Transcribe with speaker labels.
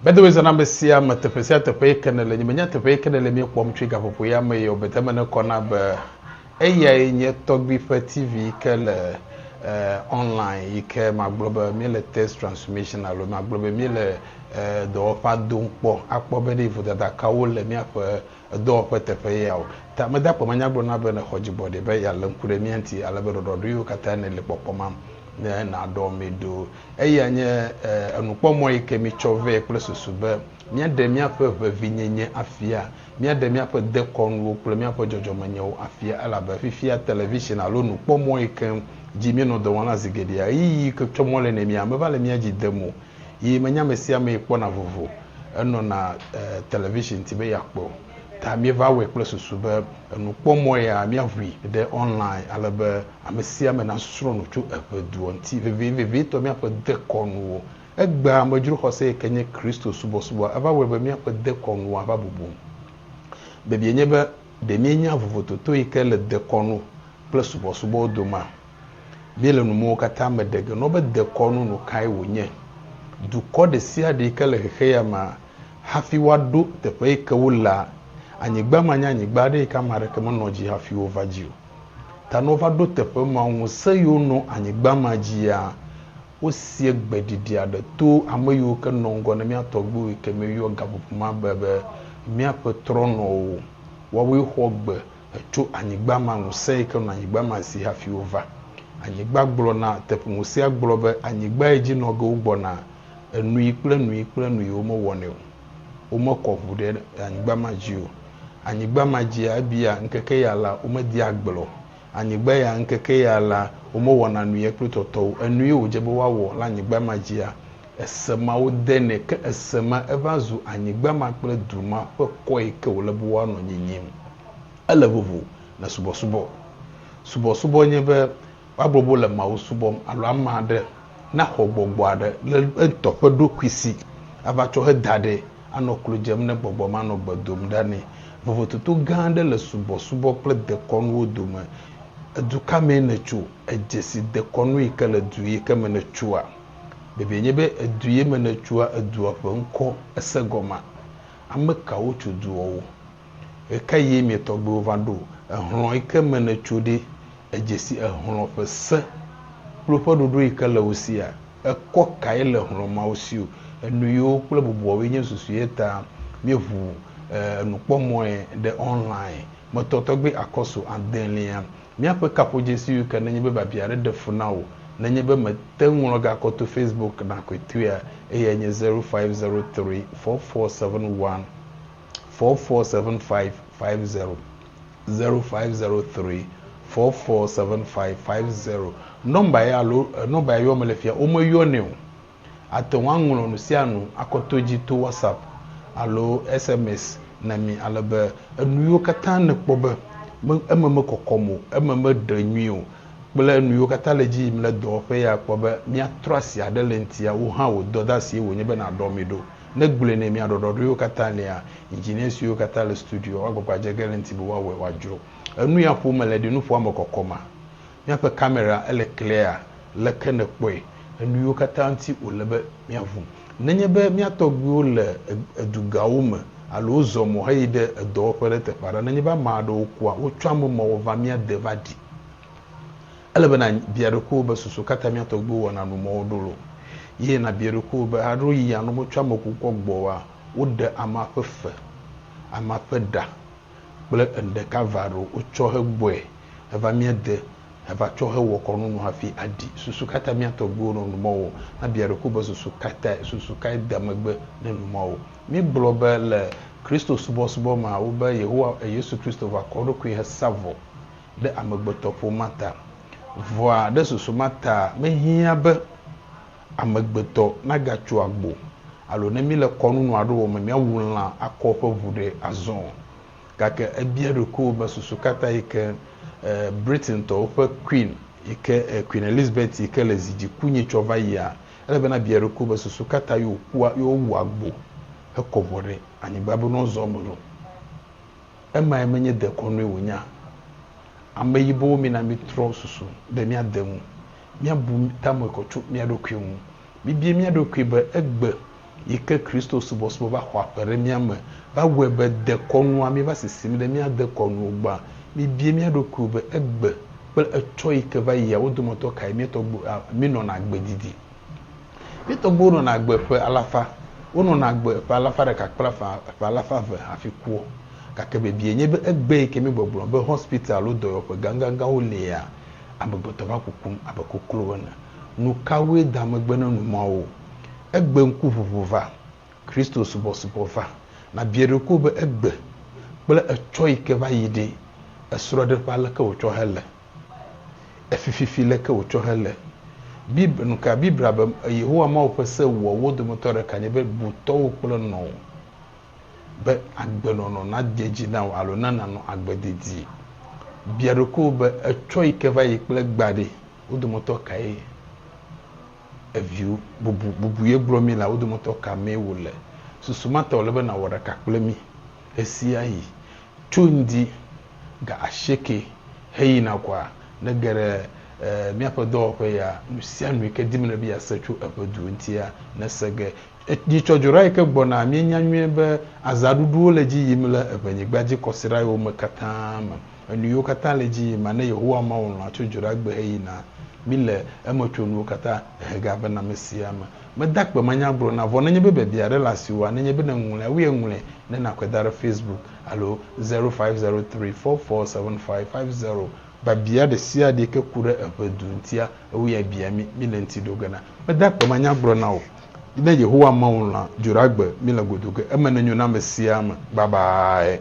Speaker 1: By the way zana mesia me teƒe sia teƒe yi ke nele nye menya teƒe yi ke nele mie kpɔm tsoe gaƒoƒo ya me yio bete me ne kɔ na be eyae nye tɔgbi ƒe TV yi ke le eh, online yi ke magblɔ be mie le test transformation alo magblɔ be mie le eh, dɔwɔƒa dom kpɔ akpɔ be ɖe vodada kawo le miaƒe edɔwɔƒe teƒe ye ao. Ta mede akpe me nya gblɔ na be nèxɔ dzigbɔɖi be yealé ŋku ɖe mía ŋuti ale be ɖɔɖɔɖoewo katã nèli kpɔkpɔ mam ne nàɖɔ mí ɖo. Eyae nye enukpɔmɔ yi ke míetsɔ vɛ kple susu be míaɖe míaƒe ʋevinyenye afia, míaɖe míaƒe dekɔnuwo kple míaƒe dzɔdzɔmenyewo afia, elabe fifia television alo nukpɔmɔ yi ke dzi míenɔ dɔ wɔm la zi geɖea, ɣeyiɣi yi ke tsɔ mɔ le nɛ mía meva le mía dzi dem o. Yi menye amesiamee kpɔna vovo enɔna television ti be yeakpɔe o. Ta míeva wɔe kple susu be enukpɔmɔ ya míaʋui ɖe online ale be amesiame nasrɔ̃ nu tso eŋeduɔ ŋuti, vevitɔ míaƒe dekɔnuwo. Egbea amedzro xɔse yike nye Kristo subɔsubɔa eva wɔe be míaƒe dekɔnuwo ava bubu. Biabiae nye be, ɖe míenya vovototo yike le dekɔnu kple subɔsubɔwo domea? Míele nu mewo katã me ɖe ge nɔ be dekɔnu nu kae wònye. Dukɔ ɖesiaɖe yi ke le xexeya mea, hafi woaɖo teƒe yi ke wolea anyigba ma nye anyigba aɖe yi ke ame aɖeke menɔ edzi hafi wova dzi o. Ta ne wova ɖo teƒe ma, ŋusẽ yi wonɔ anyigba ma dzia, wosie gbeɖiɖi aɖe to ame yiwo ke nɔ ŋgɔ ne mía tɔgbuiwo yi ke míeyɔ gaƒoƒo ma be be míaƒe trɔnɔwo. Woawoe xɔ gbe Tso anyigba ma, ŋusẽ yi ke nɔ anyigba ma si hafi wova. Anyigba gblɔ na teƒ, ŋusẽa gblɔ be, Anyigbae dzi nɔ ge wogbɔna enui kple enui kple enui womewɔnɛ o. Womekɔ ŋu ɖe anyigba ma dzi o. Anyigba ma dzia, ebia, ŋkeke ya la, womedea agble o. Anyigba ya, ŋkeke ya la, womewɔna nui ye kple tɔtɔwo. Enui wòdze be woawɔ le anyigba ma dzia, Ese ma wode nɛ, ke ese ma eva zu anyigba ma kple du ma ƒe kɔ yi ke wòle be woanɔ nyinyim. Ele vovo le subɔsubɔ. Subɔsubɔ nye be woagblɔ be wole Mawu subɔm alo ame aɖe naxɔ gbɔgbɔ aɖe le eŋutɔ ƒe ɖokui si ava tsɔ heda ɖɛ anɔ klo dzem ne gbɔgbɔ ma nɔ gbe dom ɖa nɛ. Vovototo gã aɖe le subɔsubɔ kple dekɔnuwo dome. Edu ka mee nètso? Èdze si dekɔnu yi ke le du yi ke me nètsoa? Biabiae nye be, Edu ye me nètsoa? Edua ƒe ŋkɔ èse gɔmea? Ame kawo tso duɔwo? Ɣekaɣie mia tɔgbuiwo va ɖo? Ehlɔ̃ yi ke me nètso ɖe? Èdze si ehlɔ̃ ƒe se kple woƒe ɖoɖo yi ke le wo sia? Ekɔ kae le hlɔ̃ mawo si o? Enuyiwo kple bubuawoe nye susu ye ta míeʋu enukpɔmɔ̃e ɖe online. Metɔ tɔgbi akɔsu adelia. Míaƒe kaƒodzesiwo ke nenye be biabia aɖe ɖe fu na wò, nenye be mète ŋu ŋlɔ ga kɔ to Facebook na kɔetoea, eyae nye zero five zero three four four seven one four four seven five five zero, zero five zero three four four seven five five zero. Nɔmba ya alo nɔmba ya yɔm mele fia, womeyɔnɛ o. Àte ŋu aŋlɔ nu sia nu akɔ to edzi to WhatsApp alo SMS na mí ale be enuyiwo katã nèkpɔ be eme mekɔkɔm o, eme meɖe nyui o kple nuyiwo katã le edzi yim le dɔwɔƒe ya akpɔ be míatrɔ asi aɖe le eŋutia, wò hã wò dɔdeasie wònye be nàɖɔ mí ɖo. Ne gblɔe nɛ mía ɖɔɖɔɖoewo katã lia, engineer siwo katã le studioa woagbagba adze ge le eŋuti be woawɔe wòadzro. Enuya ƒom mele ɖi nuƒoa me kɔkɔma? Míaƒe kamera ele clear? Leke nèkpɔe? Enuyiwo katã ŋuti wòle be míaʋu. Nenye be mía tɔgbuiwo le edugawo me alo wozɔ mɔ heyi ɖe edɔwɔƒe ɖe teƒe aɖe, nenye be ame aɖewo kua, wotsɔa ame mɔ wɔʋa mía de va ɖi. Ele be nàbia ɖokuiwò be, Susu ka ta mía tɔgbuiwo wɔna nu mɔwo ɖo lo? Ye nàbia ɖokuiwò be, Alo yi alo metsɔ ame kukua gbɔoa, woɖe amea ƒe fe, amea ƒe ɖa? kple enu ɖeka va ɖo wotsɔ hegbɔe heva mía de heva tsɔ hewɔ kɔnu nu hafi aɖi. Susu ka ta mía tɔgbuiwo nɔ nu mɔwo? Na bia ɖokuiwò be susu ka tae? Susu kae da megbe ne nu mɔwo? Míegblɔ be le Kristo subɔsubɔ mea wo be Yehowa Yesu Kristo va kɔ eɖokui hesa vɔ ɖe amegbetɔƒomea ta. Vɔa ɖe susu ma taa mehiã be. amegbetɔ nagatso agbo alo ne míle kɔnu nɔ aɖe wɔm be míawu lã akɔ eƒe ʋu ɖe azɔ o. Gake ebia ɖokuiwò be susu ka ta yi ke Britaintɔwo ƒe Queen yi ke Queen Elizabeth yi ke le zi dzi ku nyi tsɔ va yia? Ele be nàbia ɖokuiwò be susu ka ta ye wòkua ye wowu agbo hekɔ ʋua ɖe anyigba be ne woazɔ eme ɖo? Emae menye dekɔnue wònyea? Ameyibowo mina mítrɔ susu be míade ŋu. míabu ta me kɔ tso mía ɖokui ŋu. Mibie mía ɖokui be egbe yi ke Kristo subɔsubɔ va xɔ aƒe ɖe mía me va wɔe be dekɔnua míeva sisim ɖe mía dekɔnu o gbɔa? Mibie mía ɖokuiwo be egbe kple etsɔ yi ke va yia wo dometɔ kae mía tɔgbuiwo a minɔna agbe didi? Mía tɔgbuiwo nɔna agbe ƒe alafa. Wonɔna agbe ƒe alafa ɖeka kple afã ƒe alafa eve hafi kua. Gake biabia nye be egbe yi ke míegbɔgblɔ be hospital alo dɔyɔƒe gãgãgãwo lia? amegbetɔ va kukum abe koklo ene. Nukawoe da megbe na nu mawo? Egbe ŋkuʋuʋu va. Kristo subɔsubɔ va. Nàbia ɖokuiwò be egbe kple etsɔ yi ke va yi ɖi, esrɔ̃ɖeƒea leke wòtsɔ hele? Efififi leke wòtsɔ hele? Bib, nuka Biblia be Yehowa Mawu ƒe se wuawo dometɔ ɖeka nye be bu tɔwò kple nɔwò Be agbenɔnɔ nade edzi na wò alo na nànɔ agbe dedie. Bia ɖokuiwò be, Etsɔ yi ke va yi kple egbea ɖe, wo dometɔ kae eviwo, bubu, bubu ye gblɔ mí la, wo dometɔ ka mee wòle? Susu ma ta wòle be nàwɔ ɖeka kple mí ɣesiaɣi. Tso ŋdi ga asieke heyina kɔa, nège ɖe míaƒe dɔwɔƒe ya, nusianu yi ke dim nèle be yease tso eƒe du ŋutia, nèse ge. Etsɔdzora yi ke gbɔna, míenya nyuie be azãɖuɖuwo le edzi yim le eŋɛnyigba dzi kɔsiɖa yiwo me katã me. Enu yiwo katã le edzi yim ma, ne Yehowa Mawu lɔ̃a tso dzoɖagbe heyina, míle emetsonuwo katã hehegea be nãmesia eme. Meda akpe manyagblɔ na, vɔ nenye be biabia aɖe le asiwòa, nenye be nèŋlɔe awie, ŋlɔe ne nàkɔe da ɖe Facebook alo zero five zero three four four seven five five zero. Biabia ɖesiaɖe yi ke ku ɖe eŋedu ŋutia, ewɔe bia mí, míle eŋuti ɖo ge na. Meda akpe manyagblɔ na wò. Ne Yehowa Mawu lã dzoɖagbe mi le godo ge, eme nenyo na ame sia ame babae.